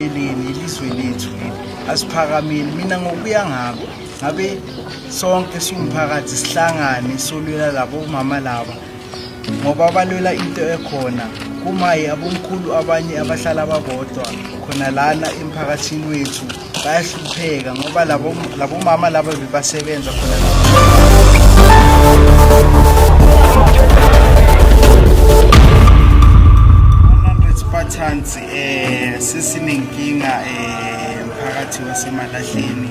elini ilizwe lethu asiphakameli mina ngokuya ngabo ngabe sonke siwumphakathi sihlangane solwela labo mama laba ngoba balwela into ekhona kumaye abomkhulu abanye abahlala babodwa khona lana emphakathini wethu bayahlupheka ngoba labo mama laba bebasebenza khona Eh sesinenkinga eh mphakathi wasemalahleni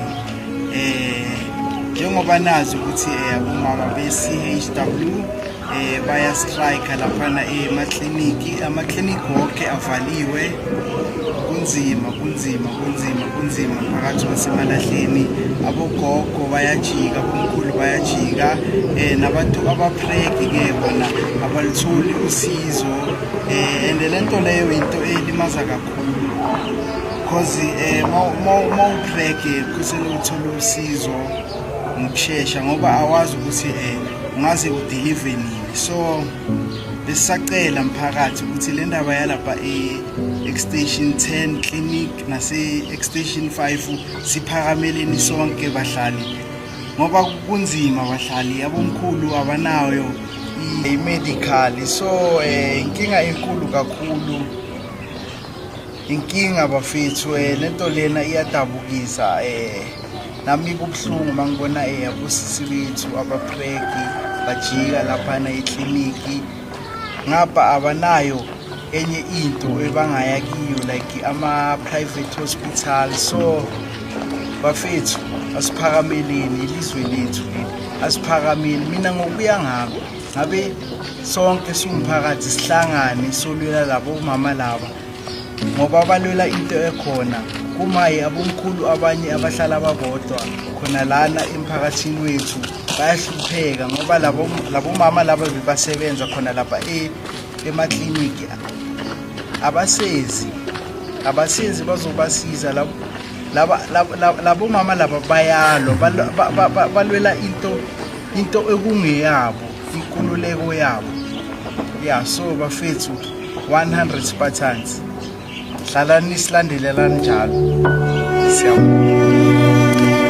eh njengoba nazi ukuthi eh, abomama be-CHW eh bayastrike laphana emakliniki eh, amakliniki wonke avaliwe kunzima kunzima kunzima kunzima phakathi kwasemalahleni abogogo bayajika abomkhulu bayajika um nabantu abapreki-ke bona abalutholi usizo eh and le nto leyo into elimaza kakhulu because eh uma utrack kusele uthola usizo ngokushesha ngoba awazi ukuthi eh ungaze udeliver nini so besisacela mphakathi ukuthi le ndaba yalapha e-extension 10 clinic nase-extension 5 siphakameleni sonke bahlali ngoba kunzima bahlali abomkhulu abanayo i-medical so eh, inkinga enkulu kakhulu inkinga bafethu eh, lento lena iyadabukisa eh nami kubuhlungu mangibona eh abosisi bethu abapregi bajika laphana ekliniki ngapha abanayo enye into ebangaya kiyo like ama-private hospital so bafethu asiphakameleni ilizwe lethu leli asiphakameli mina ngokuya ngako ngabe sonke siwumphakathi sihlangane solwela labo mama laba ngoba balwela into ekhona kumaye abomkhulu abanye abahlala babodwa khona lana emphakathini wethu bayahlupheka ngoba labomama laba bebasebenza khona lapha e, emakliniki abasezi abasezi bazobasiza labomama laba bayalwa balwela into into ekungeyabo inkululeko yabo ya so bafethu 100 spartans hlalani silandelelani njalo siyabonga